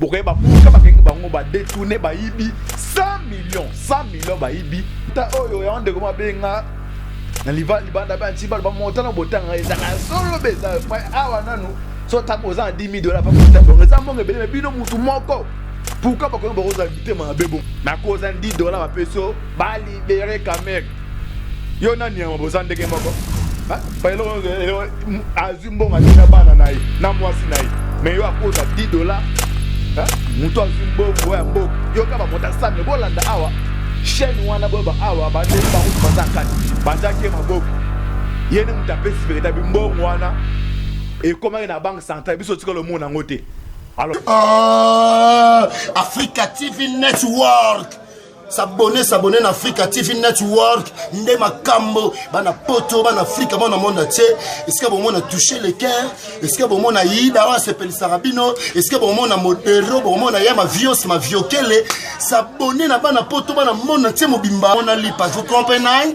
bokoye babuka bakenge bango badetourne bayibi 100 million 100 million bayibi ta oyo yango ndeko mabenga na liva libanda banti balo bamota na botanga ezanga solo beza awa nanu so ntango oza na 10 dola bakota bongo eza mbongo ebele me bino motu moko pourkui bakomi bakozala bitema mabe bongo nakozala 10 dola bapeso balibere kamer yo na niama boza ndenge moko azwi mbongo atina bana na ye na mwasi na ye mais yo akoza 10 dollars moto azwi mbongo ya mboka yo kaka bamota sami bolanda awa chaîne wana boyeba awa bande bango baza kati batiaki ye maboko ye nde moto apesi veritabi mbongo wana ekomaki na banque centrale biso otikala omona yango te alors oh, africa tv network sabone sabone na africa tv network nde makambo bana poto bana afrika mwana monde atie esika bomona touche le cœur esika bomona yida oyo asepelisaka bino esika bomona modero bomona ya mavios maviokele sabone na bana poto bana monde atie mobimba mona lipa vous comprenez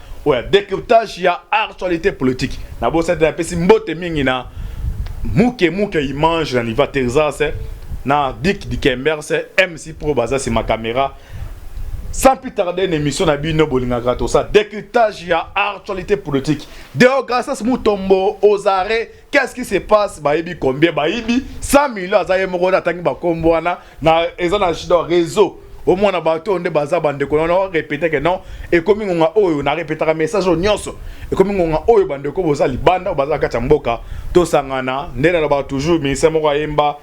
oya decriptage ya actualité politique na bosa te napesi mbote mingi na muke muke image na niva texas na dick dikembers mc pro baza sima caméra sans plus tarder une émission na bino bolingaka tosa decriptage ya actualité politique deograsas mutombo ozare Qu'est-ce qui se passe bayebi combien bayibi 100 millions aza ye moko atangi bakombo wana na eza na shida réseau omona bato oyo nde baza bandeko na no répéter que non ekomi ngonga oyo na répétaka message oyo nyonso ekomi ngonga oyo bandeko boza libanda oyo baza kati ya mboka tosangana nde naloba toujours ministère moko ayemba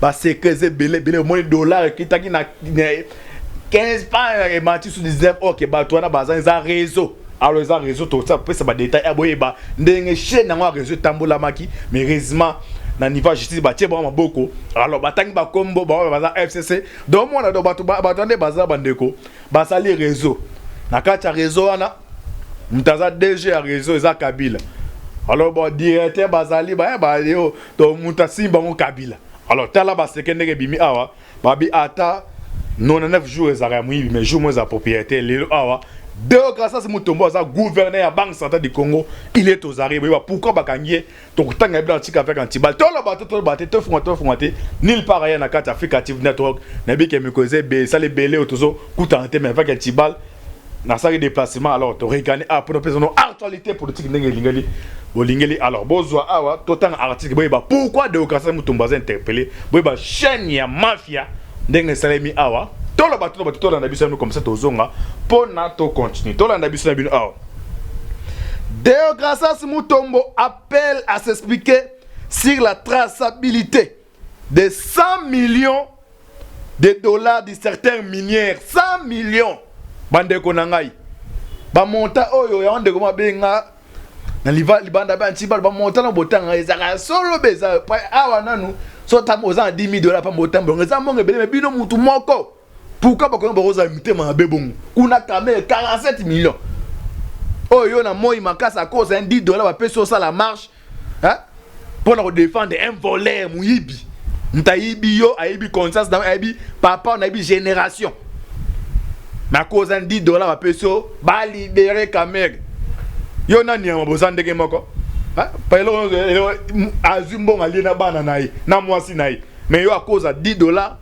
ba secret eza ebele ebele omoni dollar ekitaki na 15 pas emati su 19 ok bato wana baza eza réseau alors eza réseau tokosa kopesa badetail ya boyeba ndenge chaine yango ya réseau etambolamaki mais heureusement na niveau ya justice batie bango maboko alors batangi bakombo baoyo baza fcc donc mwana do bato bato nde baza bandeko basali réseau na kati ya réseau wana moto aza dg ya réseau eza kabila alors bon directeur bazali baye eh, bayo to mutu asimbi bango kabila alors tala baseke ndenge ebimi awa babi ata 99 jours ezalaka ya moyibi mais jour mo eza propriété lelo awa Deo Gracias Mutombo aza gouverneur ya Banque centrale du Congo, il est aux arrêts. Boyeba pourquoi bakangi ye tokutanga ye blanc tika avec antibal. Tolo bato tolo bato to fuma to fuma te nulle part ailleurs na carte Africa TV Network na bike mikoze be sale beleo tozo kutana te mais avec antibal nasalaki déplacement alors toregani awa mpo napesa no actualité politique ndenge elingeli bolingeli alors bozwa awa totanga article boyeba pourquoi deocasai mutombo aza interpellé boyeba chaîne ya mafia ndenge esalemi awa toloba toloba te tolanda biso yami comme ça tozonga mpo na tocontinue tolanda biso na bino awa deocasas mutombo appelle à s'expliquer sur la traçabilité de 100 millions de dollars de certains minières 100 millions bandeko na ngai bamonta oyo yango ndeko mabenga na libanda banti balo bamonta na botanga ezalaka solo be eza awa nanu so ntango oza na 10 dola mpa motambongo eza mbongo ebele me bino motu moko pourkui bakomi bakozala mitema mabe bongo kuna kamere 47 millions oyo yo na moi makasi akosa 10 dola bapesi osala marche hein pour nous défendre un voleur muyibi ntayibi yo ayibi conscience na ayibi papa on ayibi génération na cause 10 dollars bapesi yo ba libérer Kamerhe yo nani yango boza ndenge moko azwi mbongo alie na bana na ye na mwasi na ye mais yo akoza 10 dollars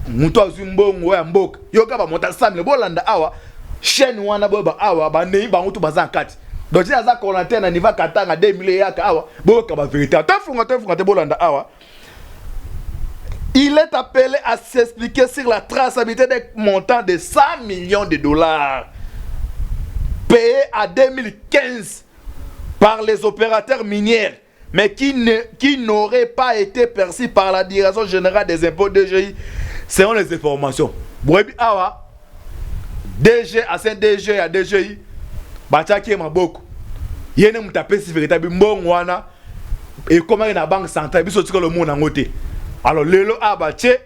moto azwi mbongo ya mboka yoka bamota samile bolanda awa chaîne wana boyeba awa banei bango to baza na kati donc ti aza coordinateur na niva katanga 2000 eyaka awa boyoka ba verité ata efunga to efunga te bolanda awa il est appelé à s'expliquer sur la traçabilité des montants de 100 millions de dollars payés à 2015 par les opérateurs miniers mais qui ne qui n'aurait pas été perçu par la direction générale des impôts DGI selon les informations boyebi awa DG ancien DG ya DGI batiaki ye maboko ye ne moto apesi veritabi mbongo wana ekomaki na banque centrale biso tikala omona yango te alors lelo awa batie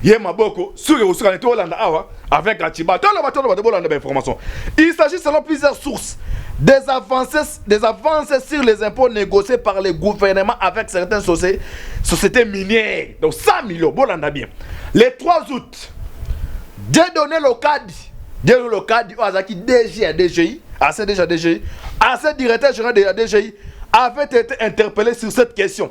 ye maboko soki ekosukana te olanda awa avec aciba toloba toloba te bolanda bainformation il s'agit selon plusieurs sources des avances, des avances sur les impôts négociés par le gouvernement avec certaines sociétés, sociétés minières donc 100 millions bolanda bien le 3 août dieudonne lokadi dieudonne lokadi oyo azalaki dg ya dgi ancien dg ya dgi ancien directeur général de la dgi avait été interpellé sur cette question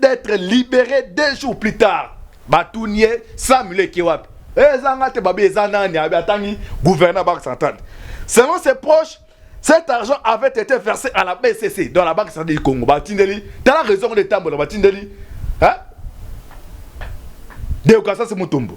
d'être libere deux jours plus tard batuni ye samule eke wapi eh, eza nga te babi eza nani abi atangi gouverneur banque centrale selon ses proches cet argent avait été versé à la bcc dans la banque centrale du congo batindeli tala raison ngo etambola batindeli hein? deukasasi mutombo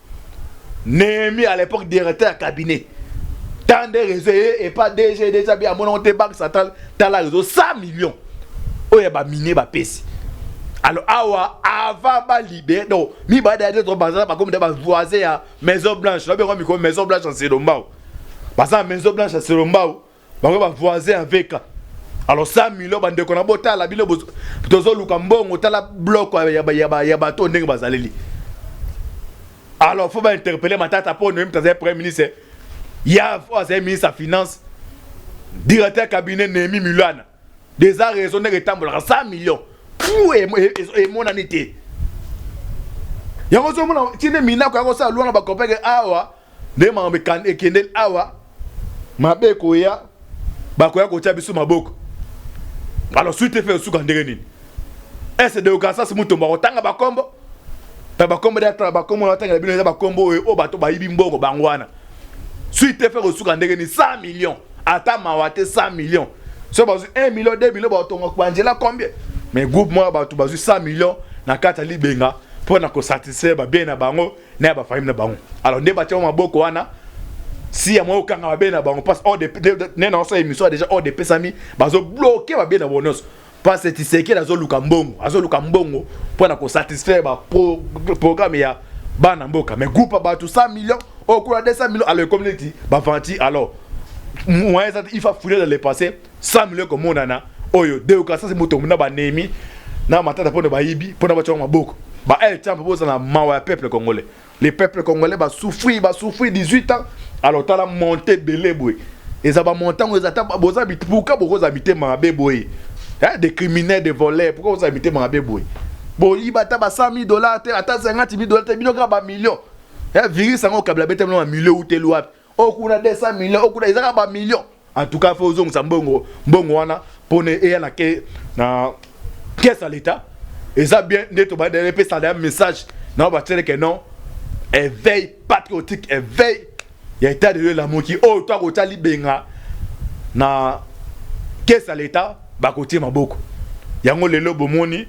Nehemi à l'époque directeur ya cabinet tant de réseau et pas DG déjà bien mon te banque centrale tala réseau 100 millions oyo ba mine ba pesi alors awa avant ba libérer donc mi ba d'ailleurs trop bazala ba comme ba voisin ya maison blanche ba bien comme maison blanche en Selombao baza maison blanche ya Selombao bango ba voisin ya VK alors 100 millions bandeko na botala bino tozoluka mbongo tala bloc ya bato ndenge bazaleli alors faut bainterpele matata mpo noyemta azali premier ministre ya fo azali ministre ya finance directeur cabinet nehemi milana deza raison ndenge etambolaka 100 millions pu emonani te yango ozomona tine minako yango osala lwana bakopeke awa Ndenge makambo ekendeli awa, mabe ekoya, bakoya kotia biso maboko. Alors suite efe osuka ndenge nini? Ese de Kansas Mutombo akotanga bakombo na bakombo ya tala bakombo na batangela bino eza bakombo oyo oyo bato bayibi mbongo bango wana. Suite efe kosuka ndenge nini? 100 millions ata mawa te 100 millions soki bazwi 1 million 2 million baotonga kubanzela combien? Mais groupe moko ya bato bazwi 100 millions na kati ya libenga mpo na kosatisfaire babie na bango na ya bafamile na bango alors nde batia maboko wana si ya mwa okanga babe na bango mpasi ne na osala emission deja ode epesami bazobloke babe na bango nyonso mpasi tisekele azoluka mbongo azoluka mbongo mpo na kosatisfaire baprogramme ya bana mboka mais groupe ya bato 100 millions okula 200 millions alors ekomi neti bavanti alors moyen eza te il faut afouler dans le passé 100 millions ekomonana oyo deokasasi moto na banemi na matata mpo na bayibi mpo na batya yango maboko ba el champ bozala mawa ya peuple congolais les peuples congolais basouffrir basouffrir 18 ans alors tala monte ebele boye eza bamontango eza ata boza pourka bokozala mitema mabe boye eh, des criminels des voleurs pourka bokozala mitema mabe boye boyiba ata ba 100 000 dollars te ata 50 000 dollars te bino kaka bamillion eh, virus yango okabila betemelo mamilio uteli wapi oyo kuna 200 millions oyo kuna eza kaka ba millions en tout cas faut ozongisa mbongo mbongo wana pona eya na ke na caisse ya l'etat eza bien nde tobanda epesana ya message na batyele ke non éveil patriotique éveil ya etat de lieu elamuki oyo to akotya libenga na kesi ya leta bakotie maboko yango lelo bomoni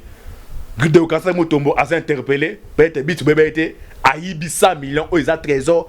deokasa motombo aza interpele peut-être bitu beba ye te ayibi 100 millions oyo eza trésor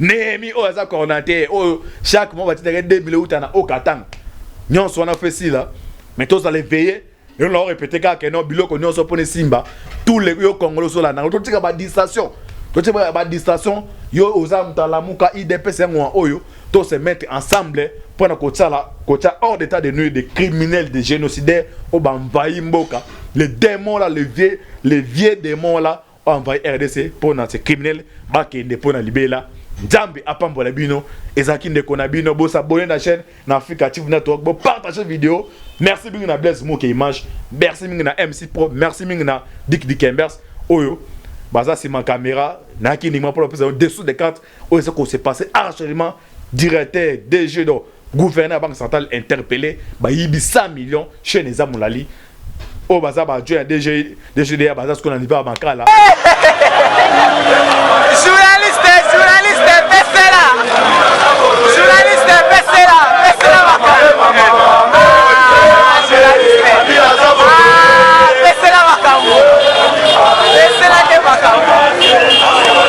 Nehemi oyo aza coordinateur oyo chaque mois batindaka 2000 euta na Okatanga nyonso wana mpe esila mais tozala eveye yo na orepete kaka keno biloko nyonso mpo na esimba tous les yo kongolo ozolandanga totika badistraction totika badistraction yo oza moto alamuka idps yango oyo to se mettre ensemble mpo na kotsala kotya hors d'état de nuire de criminel de génocidaire oyo bamvayi mboka le démon la le vieux le vieux démon la envahi rdc mpo na se criminel bakende mpo na libela nzambe apambola bino ezalaki ndeko na bino bosabone na chaîne na africa tv network bopartage video merci mingi na blaise moke image merci mingi na mc pro merci mingi na dik dikembers oyo baza nsima kamera nayaki ndima mpo na kopesa yo dessous de carte oyo eza ko se passer actuellement directeur DG donc gouverneur ya banque centrale interpellé bayibi 100 millions chaîne eza molali oyo baza ba adjoint ya DG DGDA baza sikoyo na niveau ya makala journaliste journaliste pesela journaliste pesela pesela makambo Ah, journaliste. Ah, pesela makambo pesela te makambo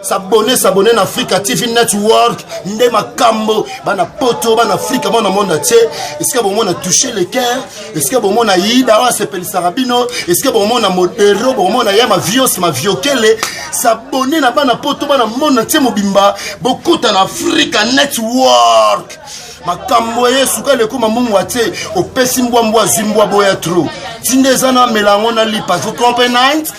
sabone sabone na africa tv network nde makambo bana poto bana afrika mwana monde atie esika bomona touche le cœur esika bomona yida oyo asepelisaka bino esika bomona modero bomona ya mavios maviokele sabone na bana poto bana monde atie mobimba bokota na africa network makambo eye sukali ekoma mungu atie opesi mbwa mbwa azwi mbwa boya tro tinda eza na mela yango na lipa zotrompe night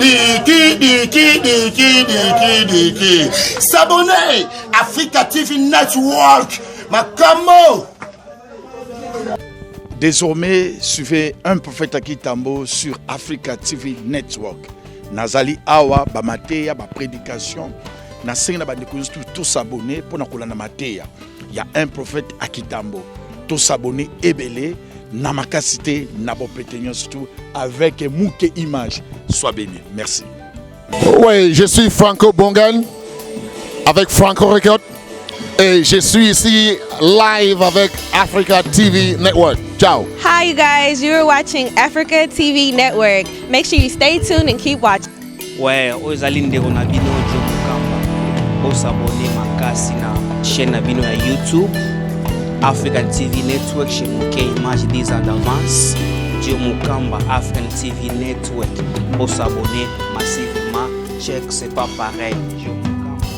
diki diki diki diki diki s'abonner africa tv network makambo Désormais, suivez un prophète à Kitambo sur Africa TV Network. Nazali Awa, Bamatea, ba prédication. Nasengi na bandeko tous s'abonner pour na kolanda mateya. ya un prophète à Kitambo to s'abonner ebele na makasi te na bopete nyonso tu avec muke image soit béni merci oui je suis franco bongan avec franco record et je suis ici live avec africa tv network ciao hi guys you're watching africa tv network make sure you stay tuned and keep watching Ouais, oyo ezali ndeko na bino Joe Mukamba. Bosabone makasi na chaîne na bino ya YouTube African TV Network chez Moke Image des en avance. Joe Mukamba African TV Network. Bosabone massivement. Check, c'est pas pareil. Joe